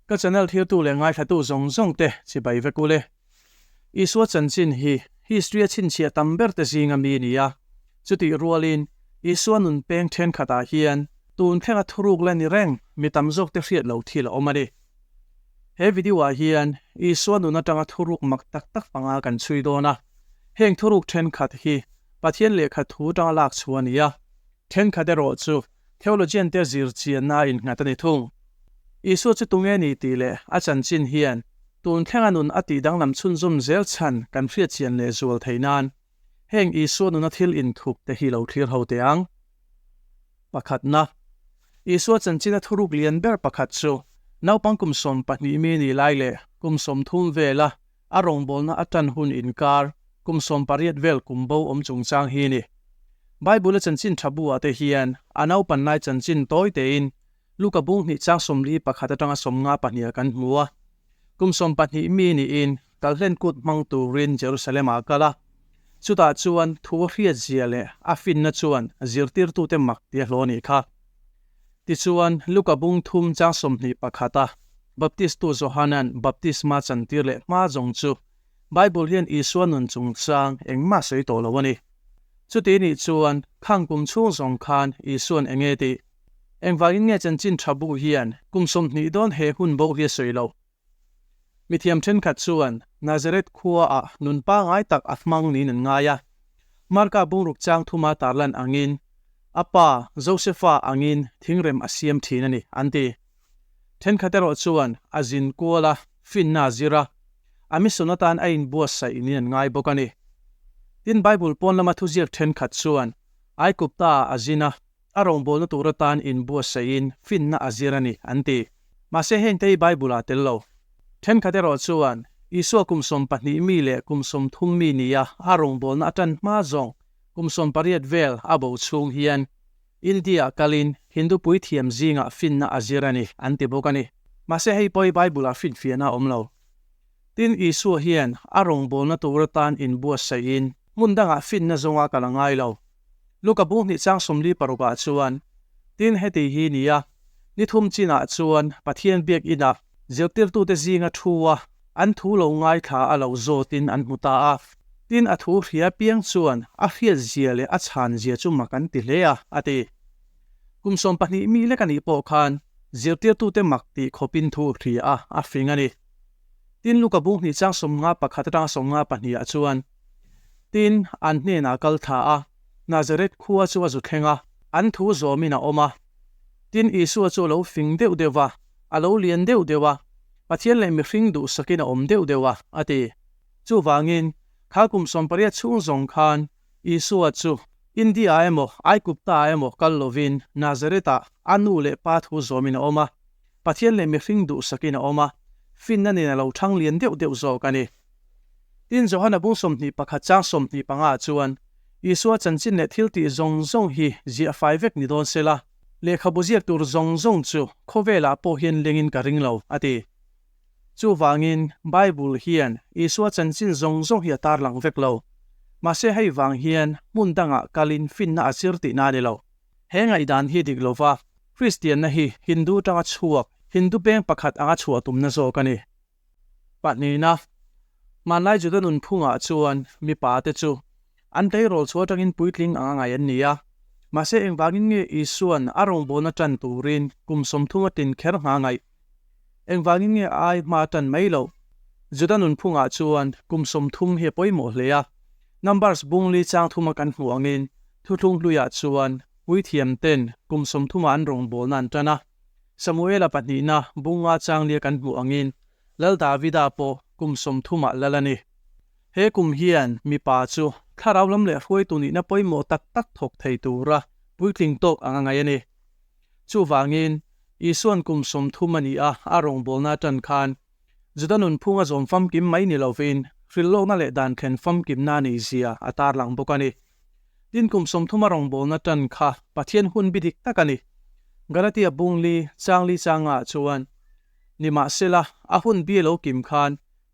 Ka channel thirtu leh ngaithlatu zawng zawng te chibai vek ule. Isua chanchin hi history a chhinchhiah tam ber te zinga mi ni a, chutih rualin Isua nunpeng thenkhatah hian tun thlenga thuruk la ni reng mi tam zawk te hriat lo thil a awm a ni. He video-ah hian Isua nun atanga thuruk mak tak tak hmanga kan chhui dawn a. Heng thuruk ṭhenkhat hi Pathian lehkha thu aṭanga lakchhuah a ni a. Ṭhenkhat erawh chu theologian-te zirchianna-a innghat a ni thung. Isua chu tunge ni tih leh a chanchin hian tun thlenga nun a tih danglam chhunzawm zel chhan kan hriatchian leh zual thei nan, Heng Isua nuna thil inthup te hi lo thlir ho teh ang. Pakhatna, Isua chanchinna thuruk lian ber pakhat chu naupang kum sawm pahnih mi nih lai leh kum sawm thum vela a rawngbawlna a tan hun inkar kum sawm pariat vel kum bo awm chungchang hi a ni. Bible-a chanchin tha bu-ah te hian a naupannai chanchin tawi tein Luka bunghnih chang sawmli pakhat atanga sawmnga pahnih a kan hmu a. Kum sawm pahnih mi niin Kal hlen kut hmang turin Jerusalemah a kal a, chutah chuan thu a hriat zia leh a finna chuan zirtirtute mak ti a hlaw a nih kha. Tichuan, Luka bung thum chang sawmhnih pakhata Baptisttu Johanan baptisma chantir leh hma zawng chu Bible hian Isua nun chungchang engmah sawi tawh lo a ni. Chuti nih chuan, khang kum chhung zawng khan Isuan eng e tih? Engvangin nge chanchin tha bu hian kum sawmhnih dawn he hun boh hi a sawi lo? Mithiam ṭhenkhat chuan Nazareth khuaah nun pangngai tak a hmang niin an ngai a. Marka bungruk chang thuma tarlan angin a pa Josepha angin thingrem a siam ṭhin a ni an ti. Ṭhenkhat erawh chuan a zin kual a, finna a zir a, a mission atan a inbuatsaih niin an ngai bawk a ni. Tin, Bible pawn lama thuziak ṭhenkhat chuan Aigupta-ah a zin a. a rawngbawlna tur atan inbuatsaihin finna a zir a ni, an ti. Mahse, heng te hi Bible-ah tel lo. Thenkhat erawh chuan Isua kum sawm pahnih mi leh kum sawm thum mi nia a rawngbawlna a tan hma zawng kum sawm pariat vel a bo chhung hian India-ah kalin Hindu puithiam zingah finna a zir a ni, an ti bawk a ni. Mahse, hei pawh hi Bible-ah finfiahna a awm lo. Tin, Isua hian a rawngbawlna tur atan inbuatsaihin hmun dangah finna zawnga kan a ngai lo. Luka buhnih chang sawmli parukah chuan, Tin heti hi ni a, Ni thum chinah chuan Pathian biak inah zirtirtute zinga thua an thu lo ngaithla a lo zawtin an hmu ta a. Tin a thu hria piang chuan a hriatzia leh a chhanzia chu mak an ti hle a, a ti. Kum sawm pahnih mi lek anih pawh khan zirtirtute mak tih khawpin thu hria a a fing a ni. Tin Luka buhnih chang sawmnga pakhat atanga sawmnga pahniah chuan, Tin, an hnenah a kal tha a, Nazareth khua chu a zu thleng a, an thu zawmin a awm a. Tin, Isua chu a lo fing deuh deuh a, a lo lian deuh deuh a, Pathian leh mihring duhsakin a awm deuh deuh a, a ti. Chuvangin, thla kum sawm pariat chhung zawng khan Isua chu India-ah emaw, Aigupta-ah emaw kal lovin Nazareth-ah a nu leh pa thu zawmin a awm a, Pathian leh mihring duhsakin a awm a, finna nen a lo thang lian deuh deuh zawk a ni. Tin, Johana bung sawmhnih pakhat chang sawmhnih panga-ah chuan Isua chanchin leh thiltih zawng zawng hi ziah fai vek ni dawn sela, lehkhabu ziak tur zawng zawng chu khawvelah pawh hian lengin ka ring lo, a ti. Chuvangin, Bible hian Isua chanchin zawng zawng hi a tarlang vek lo. Mahse, hei vang hian hmun dangah kalin finna a chir tihna a ni lo. He ngaihdan hi dik lova, Kristianna hi Hindu tanga chhuak, Hindu peng pakhat anga chhuah tumna zawk a ni. Pahnih na, Hmanlai Juda nunphungah chuan mipa te chu an tleirawl chhuah atangin puitling anga ngai an ni a. Mahse, engvangin nge Isua'n a rawngbâwn a ṭan turin kum sawmthum a tin kher hnga ngaih? Engvangin nge a ai hma a ṭan mai lo? Juda nunphungah chuan kum sawmthum hi a pawimawh hle a. Numbers bung li chang thuma kan hmuh angin, Thuthlung hluiah chuan puithiamten kum sawmthuma an rawngbâwlna an ṭan a. Samuela pahnihna bunga changlia kan hmuh angin, Lal Davida pawh kum sawmthumah lal a ni. He kum hian mipa chu thlarau lam leh hruaitu nihna pawimawh tak tak thawk thei tura puitling tawk anga ngaih a ni. Chuvangin, Isua'n kum sawmthum a ni a, a rawngbawlna atan khan, Juda nunphunga zawm famkim mai ni lovin hrilhlawkna leh dan thlen famkimna a nih zia a tarlang bawk a ni. Tin, kum sawmthuma rawngbawlna tan kha Pathian hun biadik tak a ni. Galatia bung li chang li changah chuan, Nimahsela, a hun bia lo kim khan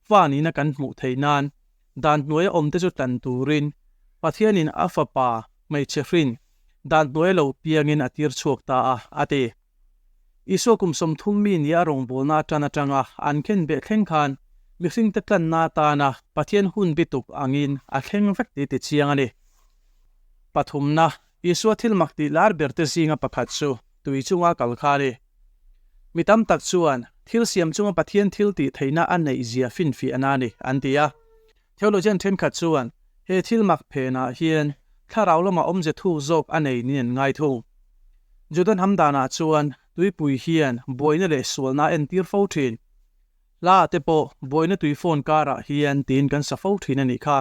fa nihna kan hmuh theih nan, dan hnuaia awmte chu tlan turin Pathianin a fapa hmeichhe hrin dan hnuaia lo piangin a tirchhuak ta a, a ti. Isua kum sawmthum mi nia rawngbawlna atan atanga an khen beh thleng khan mihringte tlanna atana Pathian hun bituk angin a thleng vek tih tichiang a ni. Pathumna, Isua thil mak tih lar berte zinga pakhat chu tui chunga kal kha a ni. Mi tam tak chuan thil siam chunga Pathian thil tih theihna a neih zia finfiahna a ni an ti a, Theologian thenkhat chuan he thil mak phenah hian thlarau lama awmze thu zawk a nei niin an ngai thung. Juda hnam danah chuan tuipui hian buaina leh sualnaa entir fo thin. Hla te pawh buaina tui fawn karah hian tiin kan sa fo thin a nih kha.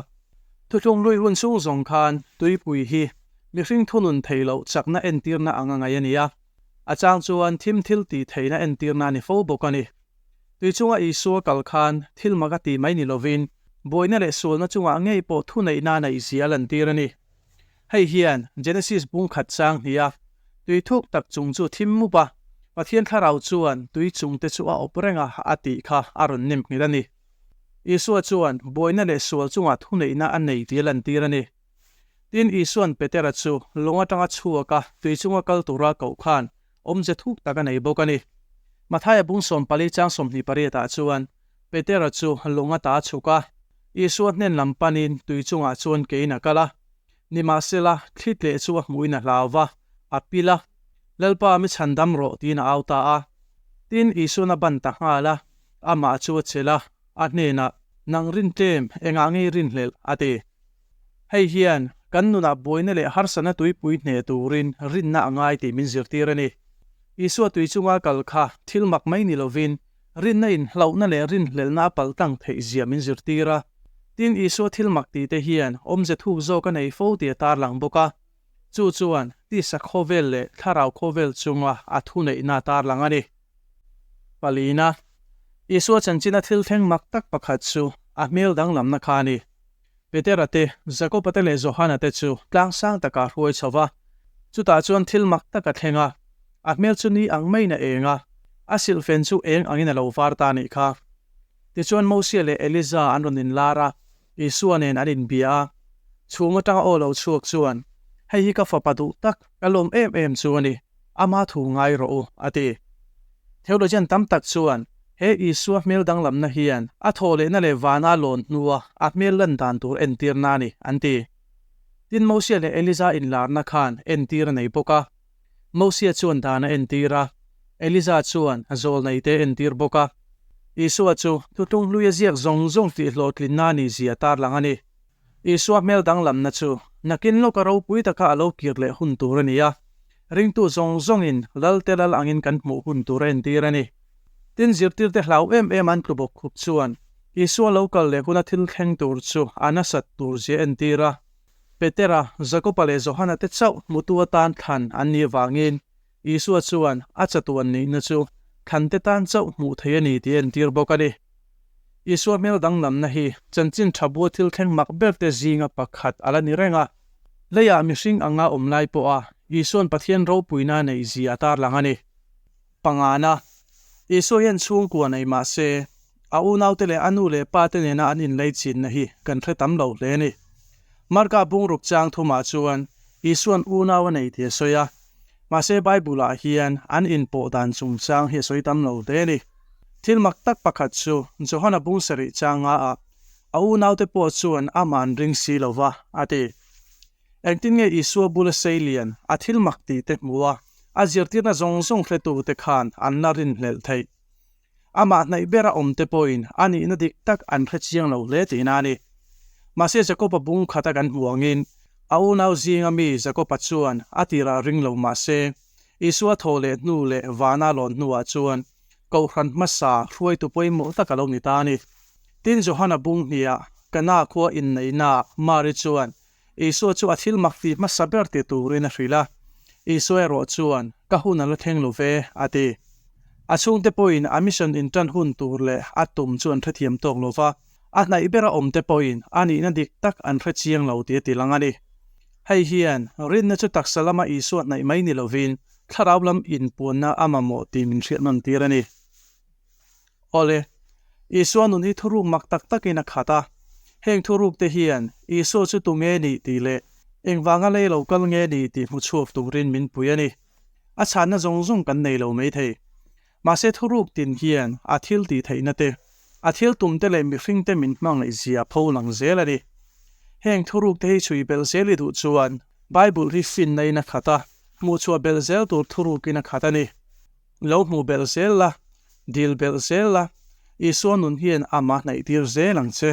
Thuthlung lui hun chhung zawng khan tuipui hi mihring thunun thei loh chakna entirna anga ngaih a nia. A chang chuan thim thil tih theihna entirna a ni fo bawk a ni. Tui chunga Isua kal khan thil mak a ti mai ni lovin, buaina leh sualna chungah ngei pawh thuneihna a neih zia a lantir a ni. Hei hian Genesis bung khat chang hnia, Tui thuk tak chung chu thim mup a, Pathian thlarau chuan tui chungte chu a awp reng a a tih kha a rawn nemngilh a ni. Isua chuan buaina leh sual chungah thuneihna a nei tih a lantir a ni. Tin, Isua'n Petera chu lawng atang a chhuak a, tui chung a kal tura koh khan awm ze thuk tak a nei bawk a ni. Matthai a bung sawm pali chang sawmhnih pariatah chuan Petera chu lawng a ta a chhuk a, Isua hnen lam panin tui chungah chuan keiin a kal a. Nimahsela, thlit leh chu a hmuhin a hlau va, a pil a, Lalpa, mi chhan dam rawh, tiin a au ta a. Tin, Isua'n a ban ta nghal a, amah chu a chelh a, a hnenah, Nang rin tlem, engah ngei rin hlelh? a ti. Hei hian kan nunah buaina leh harsatna tuipui hneh turin rinna a ngai tih min zirtir a ni. Isua tui chunga kal kha thil mak mai ni lovin, rinna inhlauhna leh rin hlelhna a palh tlang theih zia min zirtir a. Tin, Isua thil mak tihte hian awmze thuk zawk a nei fo tih a tarlang bawk a. Chu chuan tisa khawvel leh thlarau khawvel chunga a thuneihna tarlang a ni. Palina, Isua chanchina thil thleng mak tak pakhat chu a hmel danglamna kha a ni. Petera te, Jakoba te leh Johana te chu tlang sang takah a hruai chho va, chutah chuan thil mak tak a thleng a, a hmel chu ni ang maiin a eng a, a silhfen chu eng angin a lo var ta a nih kha. Tichuan Mosea leh Elijah an rawn inlar a. Isua nen an inbia a, chhum atanga aw lo chhuak chuan, Hei hi ka fapa duh tak, ka lawm em em chu a ni, ama thu ngai rawh u, a ti. Theologian tam tak chuan he Isua hmel danglamna hian a thawhlehna leh vana lawn hnua a hmel lan dan tur entirna a ni, an ti. Tin Mosea leh Eliza inlarna khan entir a nei bawk a. Mosia chuan dan a entir a, Eliza chuan a zawl nei te a entir bawk a. Isua chu thutlung hlui a ziak zawng zawng tih hlawhtlinna a ni zia tarlang a ni. Isua hmel danglamna chu nakin lawka ropui taka a lo kir leh hun tur a ni a, ringtu zawng zawngin lalte lal angin kan hmuh hun tur a entir a ni. Tin, zirtirte hlau em em an tlubawk khup chuan Isua lo kal leh huna thil thleng tur chu a nasat tur zia a entir a. Petera, Jakopa leh Johana te chauh hmutu atan thlan an nih avangin Isua chuan a chatuan nihna chu thlante tan chauh hmuh theih a ni tih a entir bawk a ni. Isua hmel danglamna hi chanchin tha bua thil thleng mak berte zinga pakhat a la ni reng a. Leiah mihring anga awm lai pawha Isuan Pathian ropuina neih zia a tarlang a ni. Pangana, Isua hian chhungkua nei mah se, a unaute leh a nu leh pate nena an inlei chinna hi kan hre tam lo hle a ni. Marka bungruk chang thumah chuan Isua'n unau a nei tih a sawi a, mahse Bible-ah hian an inpawh dan chung chang hi a sawi tam lo hle a ni. Thil mak tak pakhat chu, Johana bung sarih changa ah a unaute pawh chuan a man ring si lo va a ti. Engtin nge Isua bula sei lian a thil mak ti te hmu a, a zirtirna zawng zawng hletu te khan an la rin hlelh theih. Amah hnaih bera awm te pawhin a nihna dik tak an hre chiang lo hle tihna a ni. Mahse Jakopa bung khat a kan hmuh angin, a unau zinga mi Jakopa chuan a tirah ring lo mah se, Isua thaw leh hnu leh vana lawn hnuah chuan Kohhran hmasa hruaitu pawimawh tak a lo ni ta a ni. Tin Johana bung hniah Kana khua inneihnaah Mary chuan Isua chu a thil mak tih hmasa ber ti turin a hrilh a, Isua erawh chuan, Ka hun a la thleng lo ve, a ti. A chhungte pawhin a mission in tan hun tur leh a tum chu an hrethiam tawk lo va, a hnaih bera awmte pawhin a nihna dik tak an hre chiang lo tih a ti lang a ni. Hei hian, rinna chu taksa lama Isua hnaih mai ni lovin, thlarau lam inpuanna a mamawh tih min hriatnawn tir a ni. Awle, Isua nun hi thuruk mak tak takin a khat a. Heng thuruk te hian Isua chu tu nge ni tih leh engvanga lei lo kal nge ni tih hmu chhuak turin min pui a ni. A chhanna zawng zawng kan nei lo mai thei. Mahse thuruk tin hian a thil tih theihna te, a thil tum te leh mihring te min hmangaih zia pho lang zel a ni. Heng thuruk te hi chhui belh zel i duh chuan Bible hi finnain a khat a, hmuhchhuah belh zel tur thurukin a khat a ni. Lo hmu belh zel la, dil belh zel la, Isua nun hian a mahnaihtir zel ang che.